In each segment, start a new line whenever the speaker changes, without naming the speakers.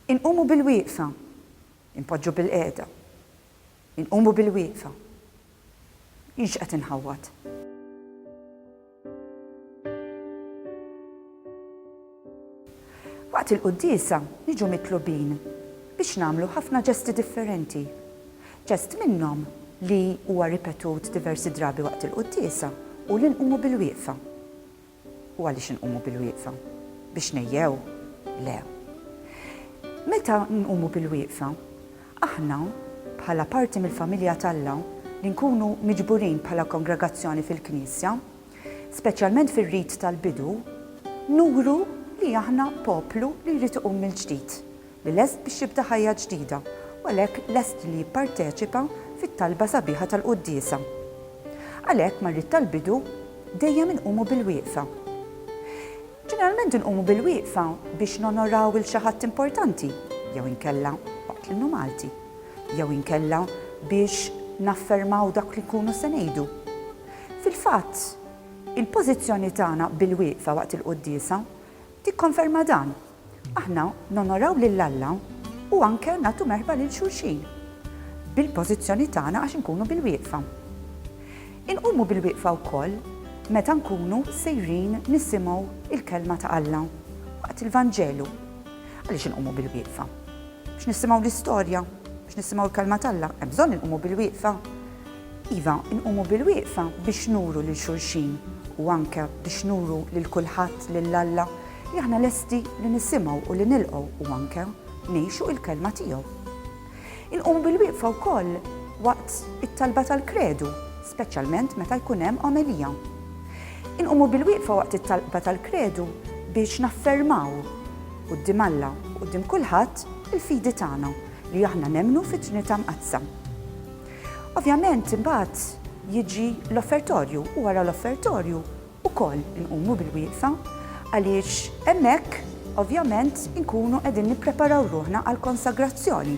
Inqumu bilwieqfa. Inpoġġu bilqiegħda. Inqumu bilwieqfa. Jien x'qed inħawwad? Waqt il-quddiesa niġu mitlubin biex nagħmlu ħafna ġesti differenti. Ġest minnhom li huwa ripetut diversi drabi waqt il-quddiesa hu li nqumu bilwieqfa. U għaliex inqumu bilwieqfa? Biex ngħejjew? Le. Meta nqumu bilwieqfa, aħna, bħala parti mill-familja t'Alla, li nkunu miġburin bħala kongregazzjoni fil-Knisja, speċjalment fir-rit tal-bidu, nuru li aħna poplu li jrid iqum mill-ġdid, li lest biex jibda ħajja ġdida u għalhekk lest li jipparteċipa fit-talba sabiħa tal-quddiesa. Għalhekk mal-ried tal-bidu dejjem inqumu bil-wieqfa. Ġeneralment inqumu bil-wieqfa biex nonoraw 'il xi ħadd importanti jew inkella waqt l-innu Malti jew inkella biex naffermaw dak li nkunu se ngħidu. Fil-fatt, il-pożizzjoni tagħna bil-wieqfa waqt il-quddiesa Tikkonferma dan, Aħna nonoraw lil Alla u anke nagħtu merħba lil xulxin bil-pożizzjoni tagħna għax inkunu bilwieqfa. Inqumu bilwieqfa wkoll meta nkunu sejrin nisimgħu l-Kelma ta' Alla waqt il-Vanġelu. Għaliex inqumu bilwieqfa? Biex nisimgħu l-istorja, biex nisimgħu l-Kelma t'Alla, hemm bżonn inqumu bilwieqfa. Iva, inqumu bil-wieqfa biex nuru lil xulxin u anke biex nuru lil kulħadd lil Alla li aħna lesti li nisimgħu u li nilqgħu u anke ngħixu l-Kelma tiegħu. Inqumu bil-wieqfa wkoll waqt it-talba tal-Kredu, speċjalment meta jkun hemm omelija. Inqumu bil-wieqfa waqt it-talba tal-Kredu biex naffermaw quddiem Alla u quddiem kulħadd il-fidi tagħna li aħna nemmnu fit-Trinità Mqaddsa. Ovvjament imbagħad jiġi l-offertorju u wara l-offertorju wkoll inqumu bil-wieqfa għaliex hemmhekk ovvjament inkunu qegħdin nippreparaw ruħna għall-konsagrazzjoni.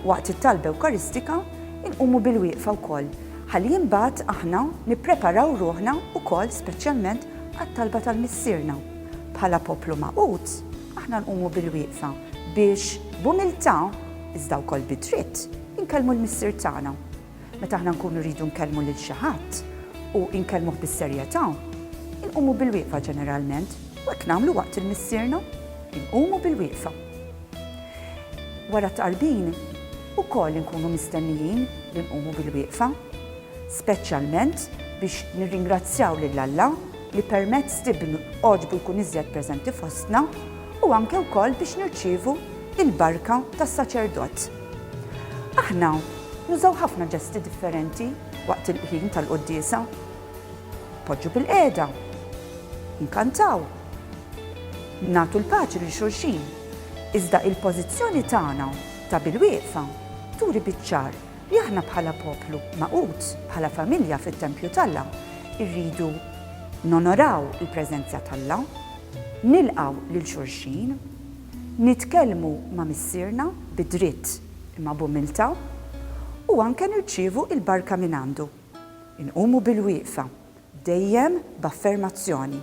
Waqt it-talba ewkaristika inqumu bil-wieqfa wkoll ħalli imbagħad aħna nippreparaw ruħna wkoll speċjalment għat-talba tal-Missierna. Bħala poplu magħqud aħna nqumu bil-wieqfa biex b'umiltà iżda wkoll bid-dritt, Inkellmu l-Missier tagħna. Meta aħna nkunu rridu nkellmu lil xi ħadd u nkellmuh bis-serjetà, inqumu bilwieqfa ġeneralment, u hekk nagħmlu waqt il-Missierna, inqumu bilwieqfa. Wara t-tqarbin, ukoll inkunu mistennijin li nqumu bilwieqfa, speċjalment biex nirringrazzjaw lil Alla li permezz t'Ibnu għoġbu jkun iżjed preżenti fostna u anke wkoll biex nirċievu l-barka tas-saċerdot. Aħna nużaw ħafna ġesti differenti waqt il-ħin tal-quddiesa. Npoġġu bilqiegħda, nkantaw, nagħtu l-paċi lil xulxin, iżda il-pożizzjoni tagħna ta' bilwieqfa turi biċ-ċar li aħna bħala poplu magħqud, bħala familja fit-tempju t'Alla, irridu nonoraw il-preżenza t'Alla, nilqgħu lil xulxin, Nitkellmu ma' Missierna bi dritt imma b'umiltà u anke nirċievu l-barka mingħandu. Inqumu bilwieqfa, dejjem b'affermazzjoni.